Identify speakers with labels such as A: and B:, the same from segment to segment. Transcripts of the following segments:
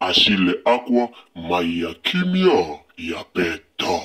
A: Achille Akwa mayi ya kimia ya peta.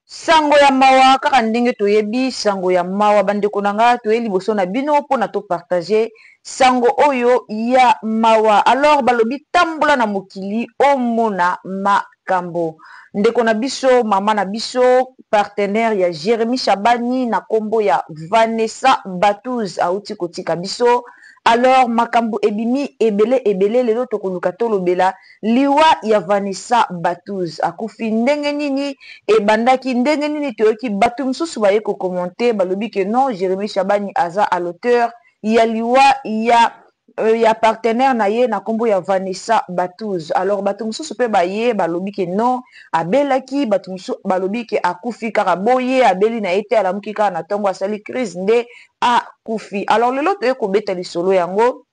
A: Sango
B: ya mawa kaka ndenge toyebi sango ya mawa bandeko na nga toye liboso na bino pona to partager sango oyo ya mawa alors balobi tambola na mokili omona ma kambo ndeko na biso mama na biso partenaire ya Jeremie Shabani na kombo ya Vanessa Batuz auti kotika biso alors makambu ebimi ebele ebele lelo tokoluka tolobela liwa ya Vanessa Batuz akufi ndenge nini ebandaki ndenge nini toyoki batu mususu baye ko commente balobi que non Jeremie Shabani aza à l'auteur ya liwa ya ya partenaire na ye na kombo ya Vanessa Batuz alors batu mususu pe baye balobi que non abelaki batu mususu balobi que akufi kaka boye abeli na ye te alamuki kaka na tongo asali crise nde a kufi alors lelo toye kobeta lisolo yango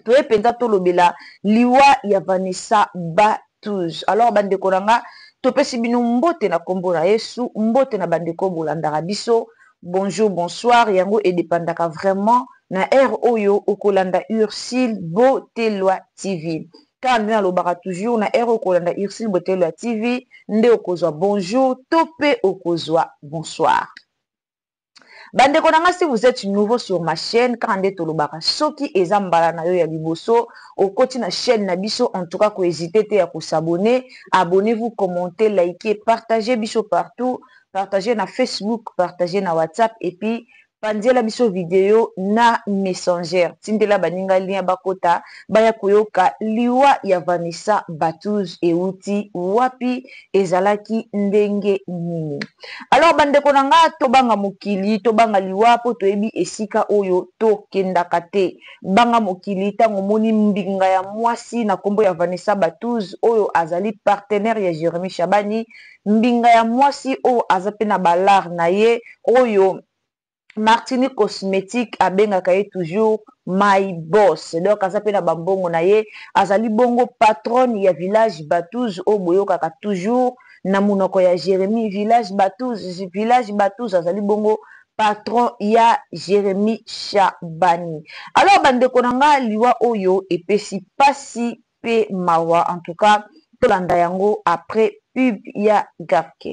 B: toye mpenza tolobela liwa ya vanessa ba touze alors bandeko na nga topesi bino mbote na nkombo na yesu mbote na bandeko bolandaka biso bonjour bonsoir yango edepandaka vraiment na ere oyo okolanda ursile botelwa tv kaka nde nalobaka toujours na ere okolanda ursile botelwa tv nde okozwa bonjour to mpe okozwa bonsoir Ba ndeko na nga si vous etes nouveau sur ma chaine kaka nde tolobaka soki eza mbala na yo ya liboso okoti na chaine na biso en tout cas ko hesiter te ya ko s'abonner, abonnez vous, commenter, liker, partager biso partout, partager na Facebook, partager na WhatsApp et puis panzela biso video na Messenger, tindela baninga lien bakota baya koyoka liwa ya Vanessa Battuz ewuti wapi? ezalaki ndenge nini alors bandeko na nga tobanga mokili tobanga liwa mpo toyebi esika oyo tokendaka te banga mokili ntango omoni mbinga ya mwasi na nkombo ya vanessa batuz oyo azali partenaire ya jeremi shabani mbinga ya mwasi oyo aza mpe na balare na ye oyo Martini cosmetique abengaka ye toujours my boss donc aza pe na ba mbongo na ye azali bongo patronne ya village batouz oyo boyokaka toujours na munoko ya Jeremie village batouz village batouz azali bongo patron ya Jeremie shabani alors ba ndeko na nga liwa oyo epesi pasi pe mawa en tout cas tolanda yango après pub ya gabke.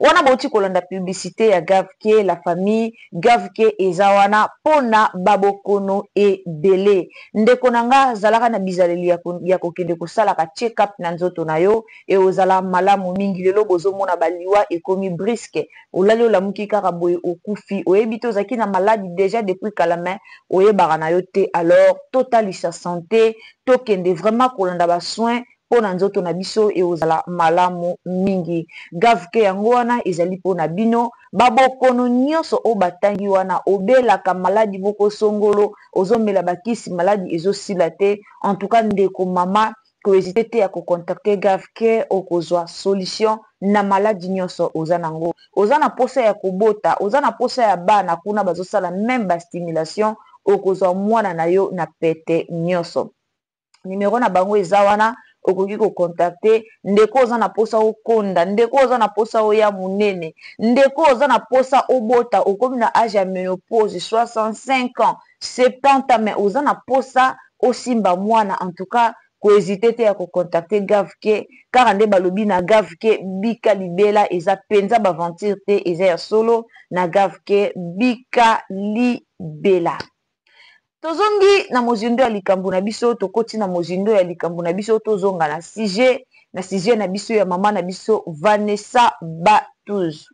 B: Wana bowuti kolanda publicite ya gavk la famille gavk eza wana pona ba bokono ebele ndeko na nga zalaka na bizaleli ya ko ya kokende kosalaka check up na nzoto na yo eozala malamu mingi lelo bozo mona ba liwa ekomi brisque olali olamuki kaka boye okufi oyebi te ozalaki na malade dejà depuis kala mais oyebaka na yo te alors totalisa sante tokende vraiment kolanda ba soins pona nzoto na biso ekozala malamu mingi gavk yango wana ezali pona bino ba bokono nioso oyo batangi wana obelaka maladi moko songolo ozomela ba kisi maladi ezo sila te en tout cas ndeko mama ko hesite te ya ko contacter gavk okozua solution na maladi nioso oza na ngo oza na posa ya kobota oza na posa ya bana kuna bazosala meme ba stimulation okozua muana na yo na pete nioso. numero na bango eza wana okoki kocontacte ndeko oza na mposa okonda ndeko oza na mposa oya monene ndeko oza na mposa obota okomi na age ya menopose 65 ans 70 ans mais oza na mposa osimba mwana en tout cas kohésite te ya kocontacte gavke kaka nde balobi na gavke bika libela eza mpenza baventure te eza ya solo na gavke bika libela Tozongi na mozindo ya likambo na biso, tokoti na mozindo ya likambo na biso, tozonga na sujet, na sujet na biso ya mama na biso Vanessa Batuz.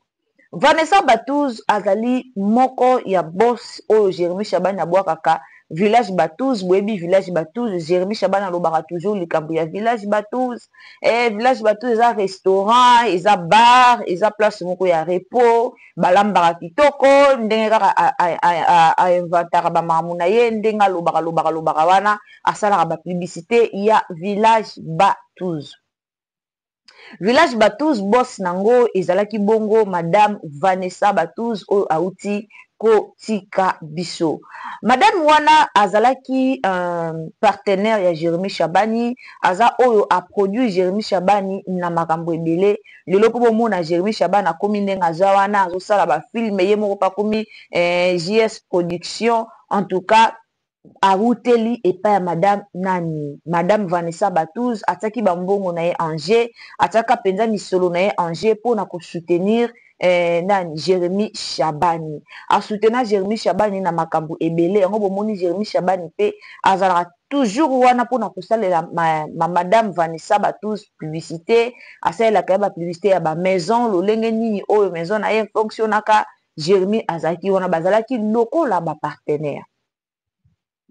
B: Vanessa Batuz azali moko ya boss oyo Jeremy Shabani abwakaka village Batuz, boyebi village Batuz, Jeremy Shabani alobaka toujours likambo ya village Batuz. eh, village bato eza restaurant eza bar eza place moko ya repos balambaka kitoko ndenge kaka ainventaka bamakambo na ye ndenge alobaka lobaka lobaka wana asalaka bapublicité ya village batus village batus bos nango ezalaki bongo madame vanessa batus oyo auti kotika biso madame wana azalaki euh, partenaire ya jérémie shabani aza oyo a produit Jeremie Shabani na makambo ebele lelo po bomona Jeremie Shabani akomi ndenge aza wana azo sala ba film ye moko pe akomi eh JS production en tout cas awuteli epai ya madame nani madame Vanessa Batouz atiaki ba mbongo na ye en jeu atiaka penza misolo na ye en jeu pona ko soutenir eh nani Jeremie Shabani a soutena Jeremie Shabani na makambo ebele yango bomoni Jeremie Shabani pe azalaka Toujours wana pona kosalela ma madame Vanessa Batuz publicite, asalelaka ye ba publicite ya ba maison lolenge nini oyo maison na ye e fonctionaka, Jeremie azalaki wana bazalaki lokola ba partenaires.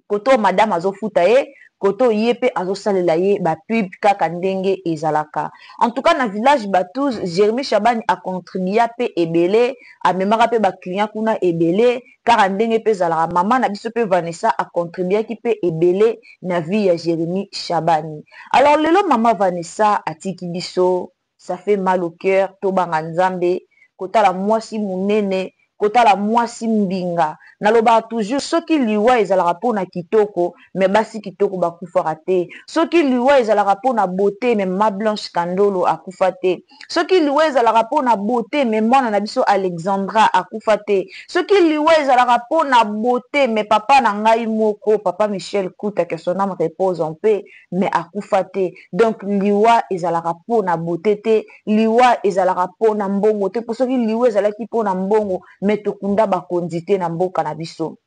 B: Kote oyo madame azo futa ye, kote oyo ye pe azo salela ye ba pub kaka ndenge ezalaka. En tout cas na village Batuz, Jeremie Shabani a contribua pe ebele, amemaka pe ba clients kuna ebele, Kaka ndenge pe ezalaka, mama na biso pe Vanessa a contribuaki pe ebele na vie ya Jeremie Shabani. Alors lelo mama Vanessa atiki biso, ça fait mal au cœur, tobanga Nzambe, kotala muasi munene, kotala muasi mbinga. Nalobaka toujours soki liwa ezalaka pona kitoko, mais basi kitoko bakufaka te. Soki liwa ezalaka pona beaute, mais mama Blanche Kandolo akufa te. soki liwa ezalaka po na beaute mais mwana na biso Alexandra akufa te, soki liwa ezalaka po na beaute mais papa na ngai moko papa Michel Kuta que son ame repose en paix mais akufa te donc liwa ezalaka po na beaute te, liwa ezalaka po na mbongo te po soki liwa ezalaki po na mbongo mais tokunda bakonzi te na mboka na biso.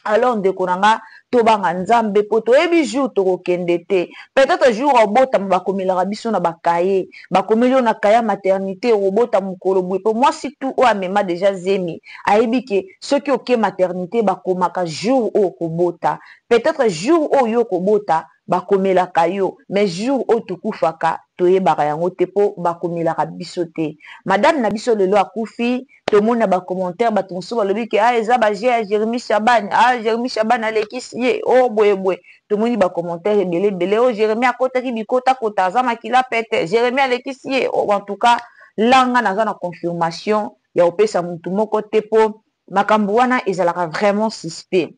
B: alors ndeko na nga tobanga nzambe po toyebi jour tokokende te peut-etre jour obotama bakomelaka biso na bakaye bakomeli yo na kaye ya maternite okobota mokolo boye po mwasi tu oyo amema deja zemi ayebi ke soki oke maternite bakomaka jour oyo okobota peut-etre jour oyo yo okobota Bakomelaka yo mais jour oyo tokufaka toyebaka yango te po bakomelaka biso te. Madame na biso lelo akufi tomoni na ba commentaires batu mosusu balobi que ah eza ba jeux ya Jeremie Shaban ah Jeremie Shaban alekisi ye oh boye boye tomoni ba commentaires ebele ebele oh Jeremie akotaki bikota kota aza makila pete Jeremie alekisi ye oh en tout cas là nga naza na confirmation ya kopesa mutu moko te po makambu wana ezalaka vraiment suspect.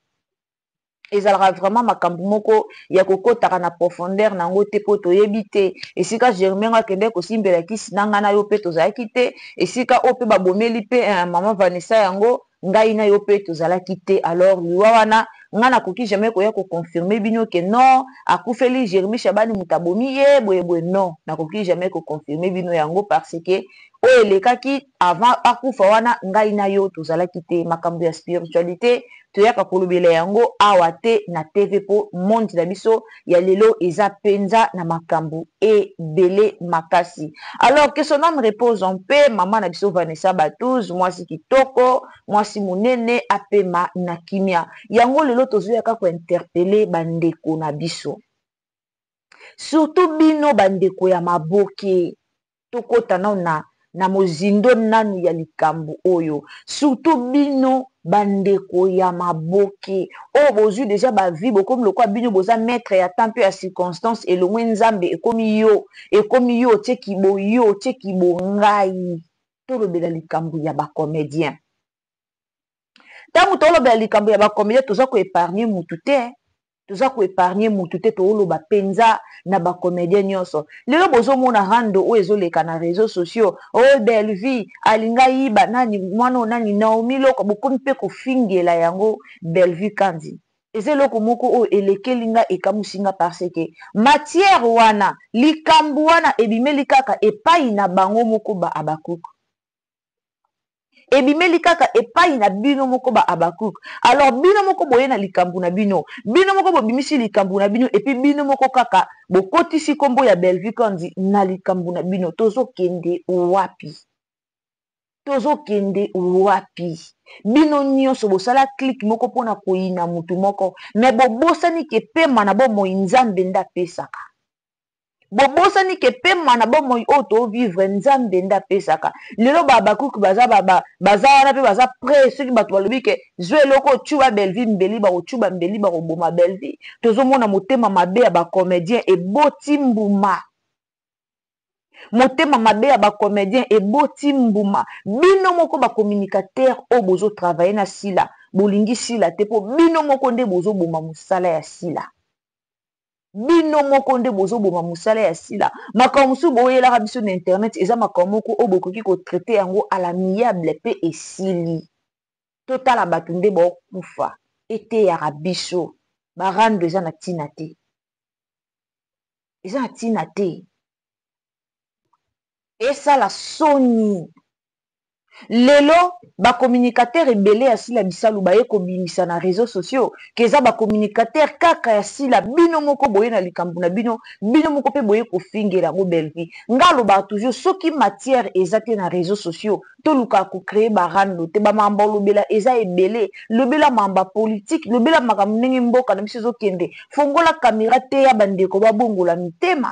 B: ezalaka vraiment makambo moko ya kokotaka na profondeur na yango te mpo toyebi te esika germain ngo akendeki kosimbela kisi na ngai na yo mpe tozalaki te esika oyo mpe babomeli mpe eh, mama vanessa yango ngai na yo mpe tozalaki te alors liwa wana ngai nakoki jamais koya koconfirme bino ke non akufeli germi shabani moto abomi ye boyeboye non nakoki jamais koconfirme bino yango parce ke oyo elekaki Avant akufa wana ngai na yo tozalaki te makambu ya spiritualite toyaka kolobela yango awa te na TV po monde na biso ya lelo eza penza na makambu ebele makasi alors que son ame repose en paix maman na biso Vanessa Batouz mwasi kitoko mwasi munene apema na kimia yango lelo tozoya ka ko interpelle ba ndeko na biso surtout bino ba ndeko ya maboke tokota nanu na na mozindo nanu ya likambu oyo surtout bino ba ndeko ya maboke oyo bozui deja ba vie bokomi lokola bino boza maitre ya temps pe ya circonstance elongwe nzambe ekomi yo ekomi yo otie kibo yo otie kibo ngai tolobela likambu ya ba comedien ntango toolobela likambo ya bakomede toza koepargne mutu te toza koepargne mutu te tooloba mpenza na bakomedie nyonso lelo bozomona rando oyo ezoleka na réseau sociaux o oh, bellevie alinga yiba nani mwana oyo nani naomi loko bokomi mpe kofingela yango bellevue kandi eza eloko moko oyo elekeli nga ekamusi nga parce que matière wana likambo wana ebimeli kaka epai na bango moko ba abakuku ebimeli kaka epai na bino moko ba Habacuc. Alors bino moko boye na likambu na bino, bino moko bobimisi likambu na bino et puis bino moko kaka bokotisi kombo ya Bellevue Kandy na likambu na bino. Tozo kende wapi? Tozo kende wapi? Bino nionso bosala clic moko pona koyina mutu moko mais bobosani ke pema na bomoi Nzambe nde apesaka. bobosani ke pema na bomoi oyo to vivre nzambe nde apesaka lelo ba habakuki baza baza wana mpe baza pre soki bato balobi ke zwa eloko ocuba belvi mbeli bakocuba mbeli bakoboma belvi tozomona motema mabe ya bacomedien eboti mbuma motema mabe ya bacomedien eboti mbuma bino moko bacommunicateur oyo bozotravaille na sila bolingi sila te mpo bino moko nde bozoboma mosala ya sila bino moko nde bozoboma mosala ya sila makambo mosusu boyelaka biso na internet eza makambo moko oyo bokoki kotraite yango à l'amiable mpe esili totala bato nde baokufa eteyaka biso barando eza na ntina te eza na ntina te esala soni lelo ba communicateur ebele ya sila bisalu baye kobimisa na reseau sociaux ke eza ba communicateur kaka ya sila bino moko boye na likambo na bino bino moko pe boye kofingela yango belvie nga alobaka toujours soki matière eza te na reseau sociaux tolukaka ko cree ba rando te ba mamba olobela eza ebele lobela mamba politique lobela makambo ndenge mboka na biso ezokende fongola camera teya bandeko babongola mitema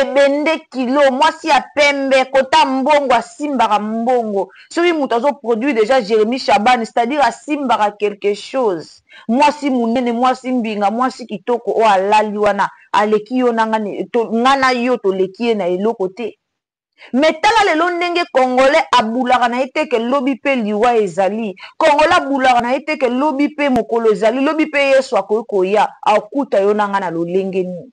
B: ebende kilo mwasi ya pembe kota mbongo asimbaka mbongo soki mutu azo produit deja jeremi shaban c'est à dire asimbaka quelques chose mwasi munene mwasi mbinga mwasi kitoko oyo alali wana aleki yo na nga nga na yo toleki ye na eloko te mais tala lelo ndenge congolais abulaka na ye te ke lobi pe liwa ezali congolais abulaka na ye te ke lobi pe mokolo ezali lobi pe yesu akoki koya akuta yo na nga na lolenge nini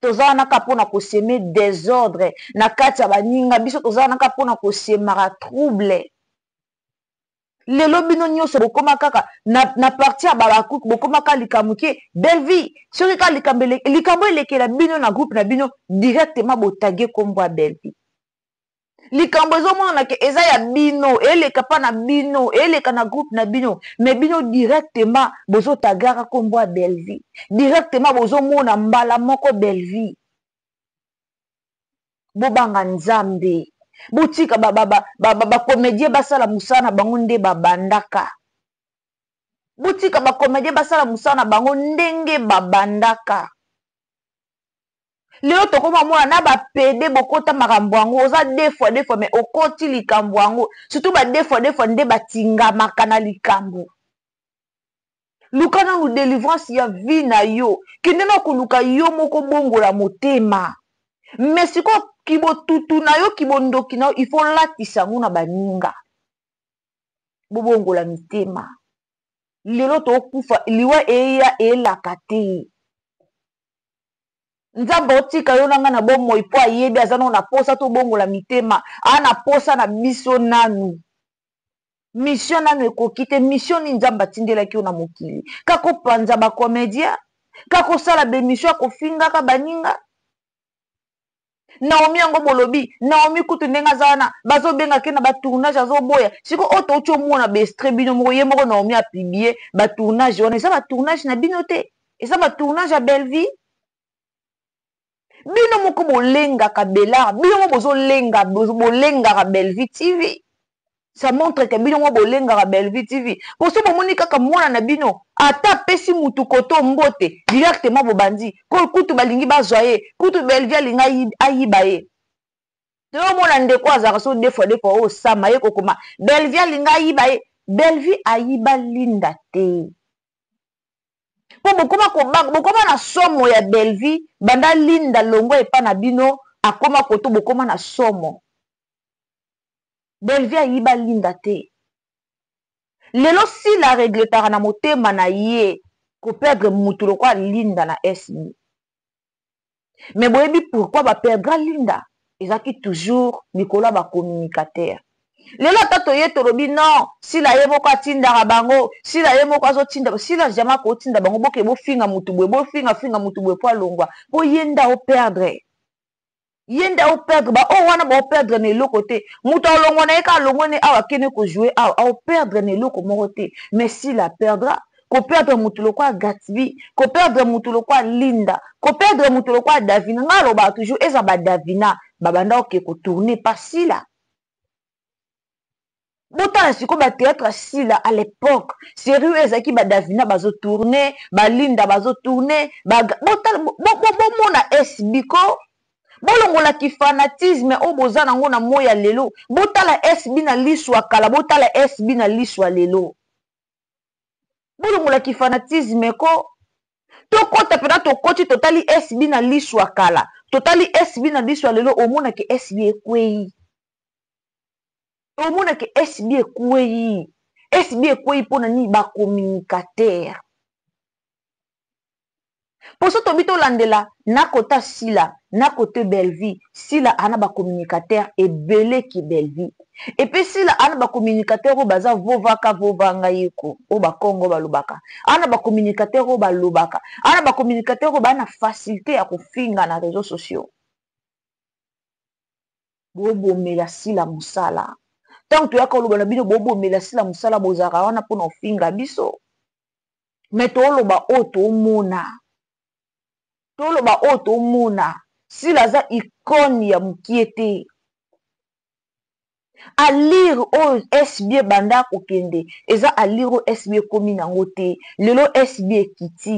B: toza wana kaka mpo na koseme desordre na kati ya baninga biso toza wana kaka mpo na kosemaka trouble lelo bino nyonso bokoma kaka na, na parti ya babakuk bokoma kaka likambo ke belvie soki kaka likambo likambo elekela bino na groupe na bino directement botage nkombo ya belvie likambo ezomonana ke eza ya bino eleka pa na bino eleka na groupe na bino me bino directement bozotagaka kombo ya bellevie directement bozomona mbala moko bellevie bobanga nzambe botika bakomedie basala mosala na bango nde babandaka botika bakomedie basala mosala na bango ndenge babandaka lelo tokoma omona na bapede bokota makambo yango oza defua defua mai okoti likambo yango surtout badefua defua nde batingamaka na likambo luka nanu delivrance ya vie na yo kende na koluka yo moko bongola motema mai sikoyo kibotutu na yo kibondoki na yo ifo olatisa yango na baninga bobongola mitema lelo tokufa liwa eya elaka te nzambe otika yo na ngai na bomoi mpo ayebi aza nao na posa tobongola mitema aa na posa na biso nanu misio nanu ekoki te misio nini nzambe atindelaki yo na mokili kakopanza bacomedia kakosala bemisio ya kofingaka baninga Naomi yango bolobi Naomi kutu ndenge aza wana bazobenga ke na ba tournage azoboya siko oyo touti omona ba extrait bino moko ye moko Naomi a publie ba tournage wana eza ba tournage na bino te eza ba tournage ya Bellevue bino moko bolengaka Bel'art bino moko bozolenga bolengaka Bellevue TV ça montre que bino moko bolengaka Bellevue TV po soki bomoni kaka mwana na bino ata apesi mutu koto mbote directement bobandi ko kutu balingi bazwa ye kutu Bellevue alinga ayiba ye toyo mona ndeko azalaka so deux fois deux fois oyo sama ye kokoma Bellevue alinga ayiba ye Bellevue ayiba Linda te po bokoma kobanga bokoma na somo ya Bellevue banda Linda longwa epa na bino akoma koto bokoma na somo Bellevue ayiba Linda te lelo Sila a regretaka na motema na ye ko perdre mutu lokola Linda na SB mais boyebi pourquoi ba perdra Linda? Ezalaki toujours likolo ya ba communicateur lelo ata toye tolobi non Sila ye moko atindaka bango Sila ye moko azo tinda Sila jamais akoki tinda bango boke bofinga mutu boye bofinga finga mutu boye po alongua po ye nde ao perdre ye nde ao perdre ba oyo wana bao perdre na eloko te moto alongwa na ye ka alongwe ne awa akende kojoue awa ao perdre na eloko moko te mais s'il a perdra koperdre motu lokola gatsby koperdre motu lokola linda koperdre motu lokola davina ngai alobaka toujours eza ba davina babanda oke kotourne pa sila botala sikoyo batheatre ya sila à l'époque série oyo ezalaki badavina bazotourne balinda bazotourne bomona esbiko bolongola kifanatisme oyo boza nango na moi ya lelo botala sb na liso ya kala botala sb na liso ya lelo bolongola kifanatisme ko tokɔta mpena tokoti totali sb na liso ya kala totali sb na liso ya lelo omonake sb ekwei omona ke SB ekwei SB ekwei mpo na nini ba communicateur mpo so tobi tolandela na kota sila na kote bellevie sila ana ba communicateur ebele ki bellevie epe sila ana ba communicateur oyo baza vovaka vova ngai eko oyo bakongo balobaka ana ba communicateur oyo balobaka ana ba communicateur oyo baa na facilité ya kofinga na réseau sociaux bobomela sila mosala ntango toyaka koloba na bino bobomela sila mosala bozalaka wana mpona ofinga biso me toloba oyo tomona toloba oyo tomona sila aza ikone ya mokie te alire oyo sb ebanda kokende eza alire oyo sb ekomi nango te lelo sb ekiti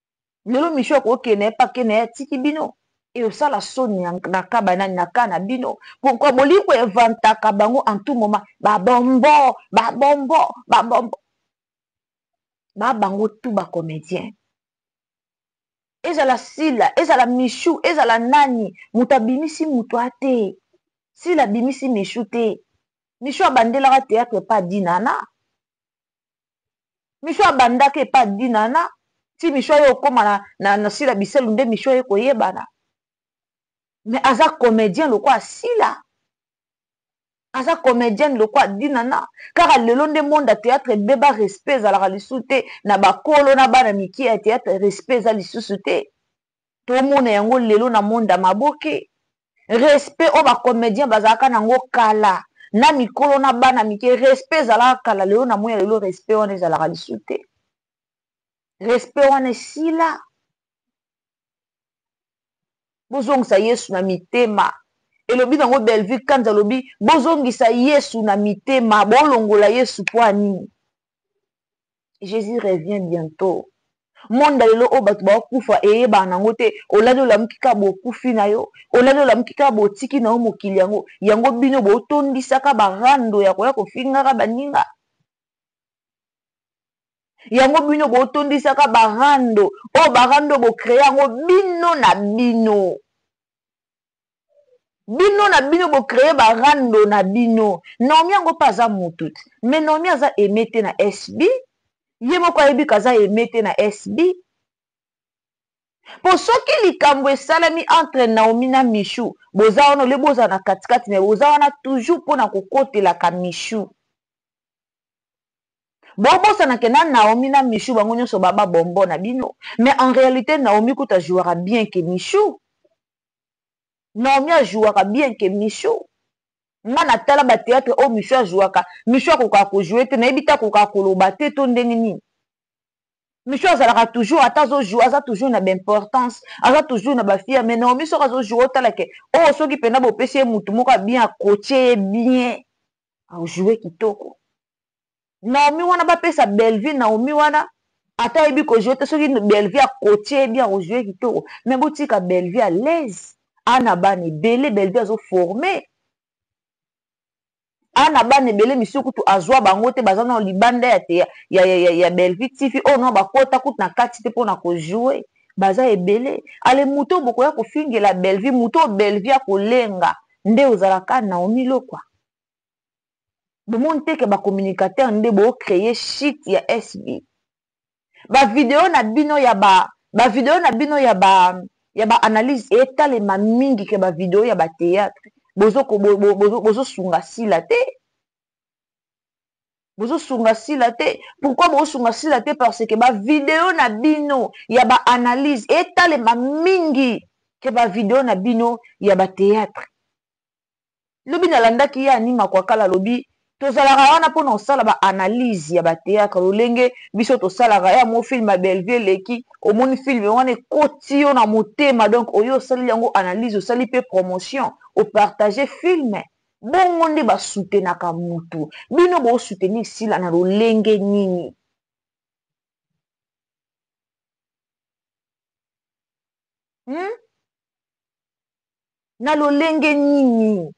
B: lelo michou akoki kende naye pa kende naye atiki bino eosala soni na ka banani na ka na bino pourkoi bolingi ko evantaka bango en tout moment babombo babombo babombo ba bango tout ba comédien ezala sila ezala michou ezala nani moto abimisi moto a te sila abimisi michou te michou abandelaka théâtre pa dinana michou abandaka epa dinana ti michou aye okoma na, na, na sila biselu nde michou aye koyebana mais aza comédien lokola sila aza comédienne lokola dinana kaka lelo nde monde ya théâtre ebeba respect ezalaka lisusu te na bakolo na bana mikie ya théâtre respect eza lisusu te tomona yango lelo na monde ya maboke respect oyo ba comedien bazalaka na yango kala na mikolo na bana mike respect ezalaka kala lelo na moya lelo respect wana ezalaka lisu te respect wana esila bozongisa yesu na mitema elobi nango bellevue kanza alobi bozongisa yesu na mitema bolongola yesu mpo ya nini Jesus revient bientot. Monde ya lelo oyo bato bakufa eyebana nango te, olali olamuki kaka bokufi na yo, olali olamuki kaka botiki na yo mokili yango, yango bino botondisaka ba rando ya koya kofingaka baninga, yango bino botondisaka ba rando oyo ba rando bo creer yango bino na bino. bino na bino bo cree ba rando na bino naomi yango mpe aza mutu me naomi aza aime te na sb ye moko ayebi kaza aime te na sb mpo soki likambo esalami entre naomi na michou boza wana ole bozala na katikati me boza wana toujours mpo na kokotelaka michou bobosana ke na naomi na michou bango nyonso baba bombo na bino mais en réalité naomi kuta jouaka bien ke michou Naomi a jouaka bien que Michou. Nga na tala ba theatre oyo Michou a jouaka, Michou akokaka ko jouer te, nayebi te akokaka koloba te to ndenge nini. Michou azalaka toujours ata azo jouer aza toujours na ba importance, aza toujours na ba fière mais Naomi soki azo jouer otala que oyo soki penza bopesi ye mutu moko ya bien a coacher ye bien, a jouer kitoko. Naomi wana ba pesa Bellevue Naomi wana ata ayebi ko jouer te soki Bellevue a coache ye bien ako jouer kitoko mais bo tika Bellevue à l'aise a na bana ebele Bellevue azo former a na bana ebele misusu kutu azua bango te baza nao libanda ya te ya, ya, ya, ya, ya Bellevue TV oyo nao bakota kutu na kati te pona ko jouer baza ebele ale moto oyo bokoya kofingela Bellevue moto oyo Bellevue akolenga nde ozalaka Naomi Lokwa bomoni te ke ba communicateur nde bo cree shit ya SB ba video na bino ya ba ba video na bino ya ba ya ba analyse etalema mingi ke ba video ya ba theatre bozo bozo sunga sila te bozosunga sila te pourkui bozosunga sila te parce que bavideo na bino ya baanalyse etalema mingi ke bavideo na bino ya bateatre lobi na landaki ye anima kuakala alobi tozalaka wana pona kosala ba analyse ya ba theatre lolenge biso tosalaka ya mo film ya bellevue eleki omoni film wana ekoti yo na motema donc oye osaleli yango analyse osali pe promotion o partage film bongo nde ba soutenaka mutu bino bo soutenir sila na lolenge nini hmm? Na lolenge nini?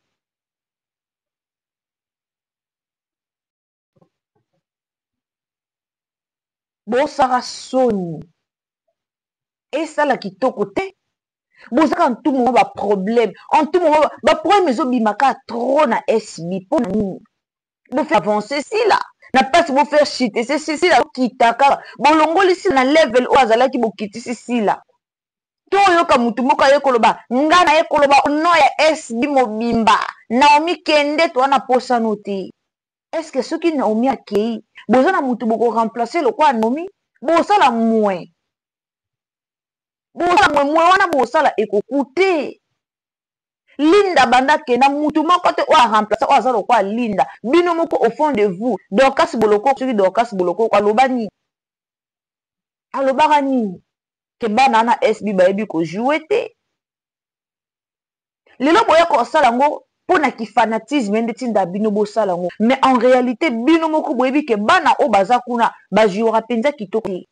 B: Bosaka soni. Esala kitoko te. Bozaka en tout moment ba problème. En tout moment ba problème ezobima ka trop na SB. Mpo na nini? Bo faire avancer sila. Na place bo faire chute se sila okita kaka. Bolongoli sila na level oyo azalaki bokitisi sila. to oyoka motu moko aye koloba nga naye koloba au nom ya SB mobimba Naomi kende toza na posa no te est ce que soki Naomi akeyi boza na motu boko remplacer lokola Naomi bosala mue bosala mue mue wana bosala ekokute linda banda akenda mutu moko te oyo aremplace oyo aza lokola linda bino moko au fond de vous dorcas bolokoko soki dorcas bolokoko aloba nini alobaka nini ke bana wana SB bayebi ko joue te lelo boya kosala yango mpo na kifanatisme nde tinda bino bosala yango mais en réalité bino moko boyebi ke bana oyo baza kuna bajouaka mpenza kitoko te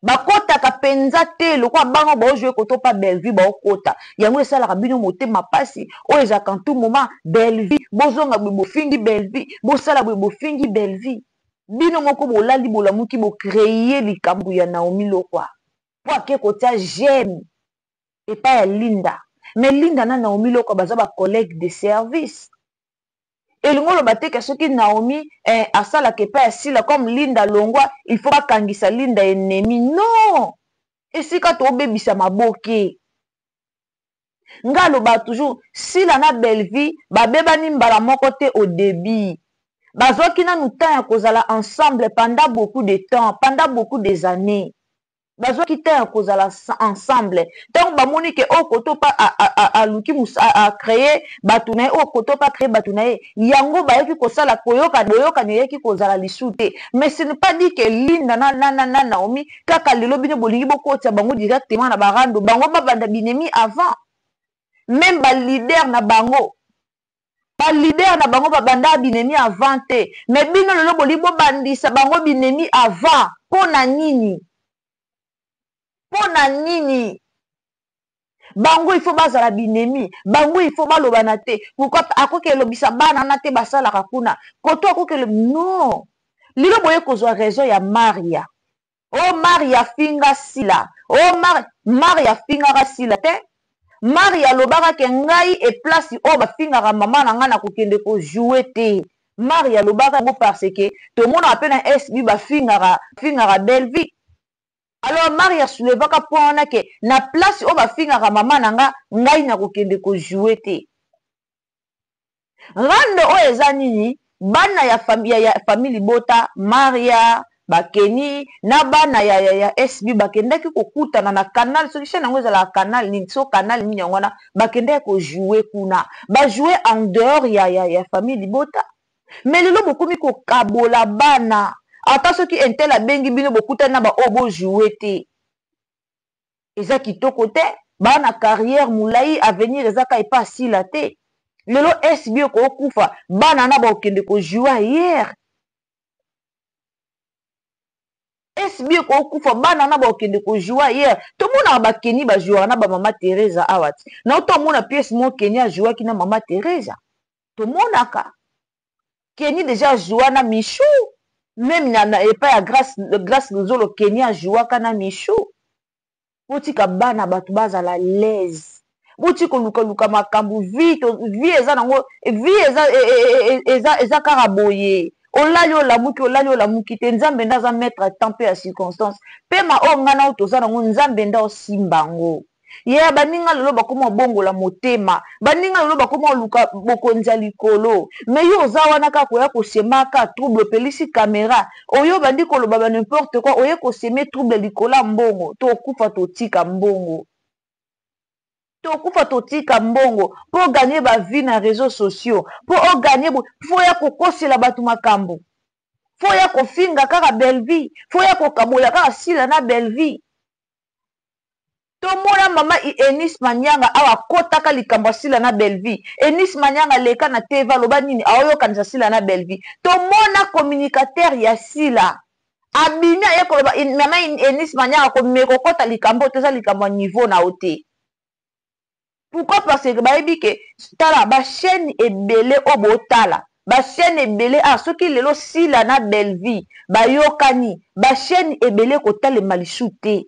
B: bakotaka mpenza te lokola bana oyo baojoue koto mpa bellevue baokota yango esalaka bino motema mpasi oyo ezalaka ntu moma bellevue bozonga boye bofingi bellevue bosala boye bofingi bellevue bino moko bolali bolamuki bo creer likambu ya Naomi Leroy po ake kotia j'aime epai ya Linda mais Linda na Naomi Leroy baza ba collegues de service elingi oloba te ke soki Naomi eh asalaka epai ya Sila comme Linda alongua il faut bakangisa Linda ennemie non esika tobebisa maboke. nga alobaka toujours sila na bellevie babebani mbala moko te au debut bazwaki nanu temps ya kozala ensemble pendant beaucoup de temps pendant beaucoup des annees bazwaki temps ya kozala ensemble ntango bamoni ke oyo koto mpa aluki acreye bato na ye oyo koto mpa acreye bato na ye yango bayaki kosala koyoka boyokani eyaki kozala lisu te mais ce ne pas dit ke linda na, na, na, na naomi kaka lelo bino bolingi bokotisa bango directement na ba rando bango babanda binemi avant meme ba leader na bango ba leader na bango babanda binemi avant te mais bino lelo bolingi bobandisa bango binemi avant mpo na nini mpo na nini bango il faut bazala binemi bango il faut balobana te pourquoi akoki elobisa bana wana te basalaka kuna koto akoki elobi non lelo boye kozwa raison ya maria o oh, maria finga sila o oh, mar maria fingaka sila te maria alobaka ke ngai eplace oyo bafingaka mama na ngai na kokende kojoue te maria alobaka yango parce ke tomonaka mpe na sb bafingaka fingaka bellevie Alors Marie a soulevaka point wana ke na place oyo ba fingaka mama na nga, ngai nako kende ko jouer te. Rando oyo eza nini? Bana ya famille ya famille libota Maria, ba Kenny na bana ya ya SB ba kendaki ko kutana na canal soki chaine yango ezalaka canal nini soki canal nini yango wana ba kendaki ko jouer kuna. Ba jouer en dehors ya ya famille libota. mais lelo bokomi kokabola bana ata soki intel abengi bino bokutani na baoyo bo joue te eza kitoko te baa na carrière molai avenir eza ka epa asila te lelo sb okookufa bana na bakokende kojoue ayere sb okookufa bana na bakokende kojoue ayere tomonaka bakeni bajouaka na bamama teresa awa ti na oto amona piese mo keni ajouaki na mama teresa tomonaka Kenny dejà ajoua na Michou meme na na epai ya grace grace luzolo Kenny ajouaka na Michou botika bana batu bazala laise botika koluka luka makambu vie to vie eza nango vie eza e, e, e, eza eza kaka boye olali olamuki olali olamuki te nzambe nde aza maître ya temps mpe ya circonstance mpe ma oyo ngai nao toza nango nzambe nde osimba yango Yeah, baninga lelo bakoma kobongola motema. Baninga lelo bakoma koluka bokonzi ya likolo. Mais yo oza wana kaka koya ko sema kaka trouble, opelisi camera. Oye obandi koloba ba n'importe quoi, oye ko semer trouble likolo ya mbongo. Tokokufa totika mbongo. Tokokufa totika mbongo. Po o gagner ba vues na reseaux sociaux, po o gagner boye, il faut oya kokosela batu makambo. Il faut oya kofinga kaka Bellevue, il faut oya kokabola kaka Sila na Bellevue. tomona mama eunice manianga awa akotaka likambo ya sila na bellevie eunice manianga aleka na tv aloba nini aoyokanisa sila na bellevie tomona communicateur ya sila abimi aye koloba mama eunice manianga komekokota likambo oyo te eza likambo ya niveau na yo te pourquoi parce que bayebi ke tala ba chaine ebele oyo botala ba chaine ebele awa soki lelo sila na bellevie bayokani ba chaine ebele ekotalema lisu te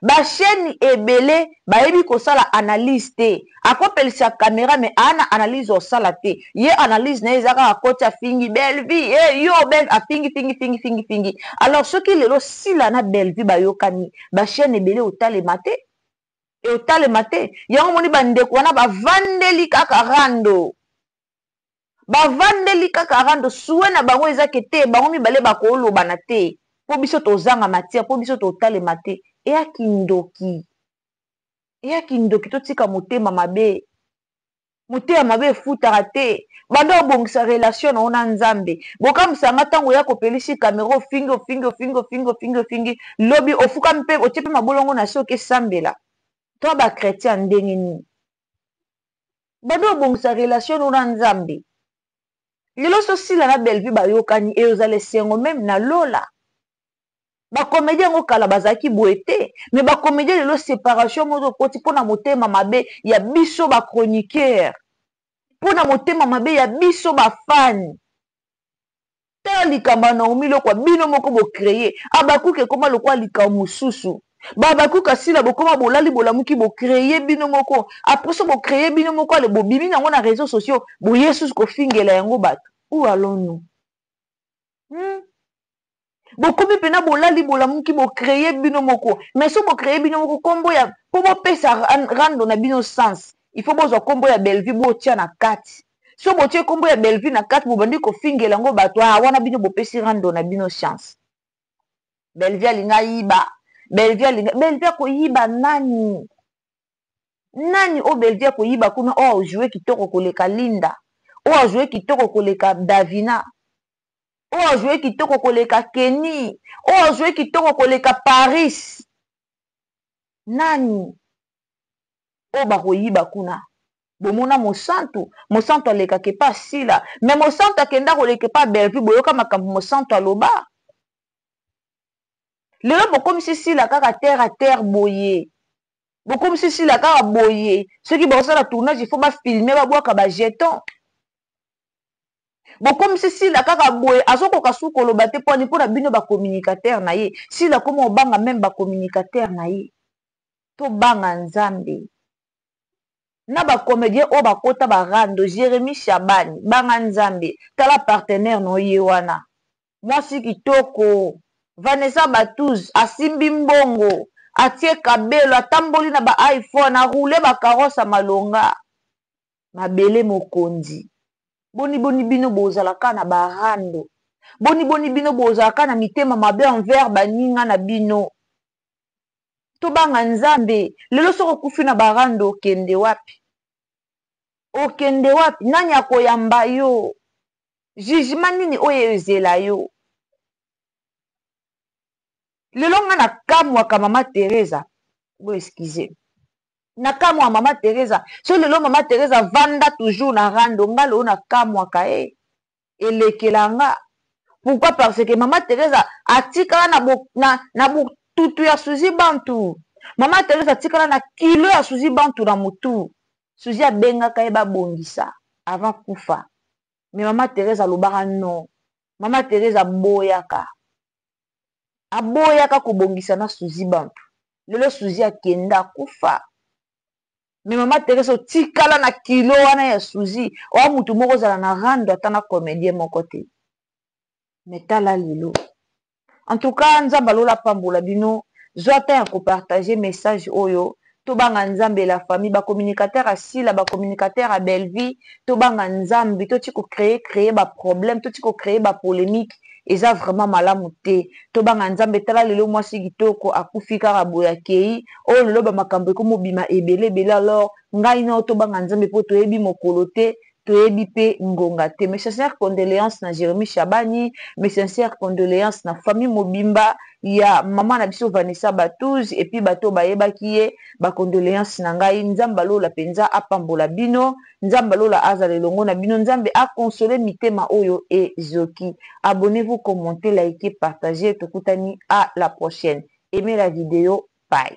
B: ba chaine ebele bayebi kosala analyse te akopelisa camera me aa na analyse osala te ye analyse na ye eza kaka koti afingi bellevie e yo bel afingi fingi fingi fingi fingi alors soki lelo sila na bellevie bayokani ba chaine ebele otalema te eotalema te yango omoni bandeko wana bavandeli kaka rando bavandeli kaka rando sue na bango eza ke te bango mibale bakoolobana te mpo biso tozanga matière mpo biso totalema te eya kindoki eya kindoki totika motema mabe Motema mabe efutaka te banda obongisa relation na yo na nzambe bokamwisaka nga tango oya kopelisi camera ofingi ofingi ofingi ofingi ofingi ofingi lobi ofukami pe otie pe mabolongo nase oke sambela toa ba chretien ya ndenge nini banda obongisa relation no na nzambe lelo so sila na bellevue bayokani eozala esengo meme na lola ba comedien yango kala bazalaki boye te mais ba comedien lelo separation mozo ekoti mpo na motema mabe ya biso ba chroniqueur mpo na motema mabe ya biso bafani tala likambo ya naomi lokwa bino moko bocreye abakuka ekoma lokola likambo mosusu babakuka sila bokoma bolali bolamuki bocreye bino moko apres so bocreye bino moko ale bobimi na yango na réseau sociaux boye susu kofingela yango bato ou allons nous hmm? bokomi mpena bolali bolamuki bocreye bino moko mais so bocreye bino moko nkombo ya mpo bopesa rando na bino sens il faut bozwa nkombo ya bellevue botia na kati so botie nkombo ya bellevue na kati bobandi kofingela yango bato a ah, wana bino bopesi rando na bino chance bellevue alinga yiba bellevue alinga bellevue akoyiba nani nani oyo bellevue akoyiba kuna oyo ajoue kitoko koleka linda oyo ajoue kitoko koleka davina oyo a joue kitoko koleka Kenny oyo a joue kitoko koleka Paris nani oyo bakoyiba kuna bomona mosantu mosantu alekaka epa sila me mosantu akenda koleka epa bellevue boyoka makambo mosantu aloba lelo bokomisi sila kaka terre a terre boye bokomisi sila kaka boye soki baosala tournage ifo bafilme babwaka bajeton bokomisi sila kaka boye azokoka su koloba te pwani mpo na bino bacommunicateur na ye sila koma obanga meme bacommunicateur na ye tobanga nzambe na bacomédien oyo bakota barando jérémie shabani banga nzambe tala partenaire na oye wana mwasi kitoko vanessa batuz asimbi mbongo atie kabelo atamboli na baiphone aroule bacarose ya malonga mabele mokonzi boni boni bino bozala kaka na ba rando boni boni bino bozala kaka na mitema mabe envers baninga na bino tobanga nzambe lelo soko okufi na ba rando okende wapi okende wapi nani akoyamba yo jugement nini oyo ezela yo lelo nga na kamwaka mama teresa bo excuse na kamwa mama teresa so lelo mama teresa vanda toujours na rando nga lelo na kamwaka e eh. elekela nga pourquoi parce que mama teresa atikala na, bo, na, na botutu ya suzi bantu mama teresa atikala na kilo ya suzi bantu na motu suzi abengaka ye babongisa avant kufa me mama teresa alobaka non mama teresa aboyaka aboyaka kobongisa na suzi bantu lelo suzi akenda akufa me mama teresa otikala na kilo wana ya suzi oa motu moko ozala na rando ata na comedien moko te me tala lelo en tout cas nzambe alola apambola bino zwa temps ya kopartage message oyo tobanga nzambe la famille ba communicateur ya sila ba communicateur ya belvie tobanga nzambe toti ko cree cree ba problème toti ko cree ba polemique eza vraiment malamu te tobanga nzambe tala lelo mwasi kitoko akufi kaka boye akei o oh, lelo bamakambo ekomobima ebele ebele alors ngai nao tobanga nzambe mpo toyebi mokolo te toyebi pe ngonga te mes sincères condoleances na Jeremie Shabani mes sincères condoleances na famille mobimba ya maman na biso Vanessa Batouz et puis batu oyo bayebaki ye ba condoleances na ngai Nzambe ya lola penza apambola bino Nzambe ya lola azala elongo na bino Nzambe a consoler mitema oyo ezoki abonnez-vous commentez likez partagez tokutani a la prochaine aimez la video bye.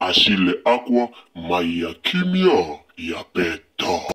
A: Achille Akwa mayi ya kimia ya pete.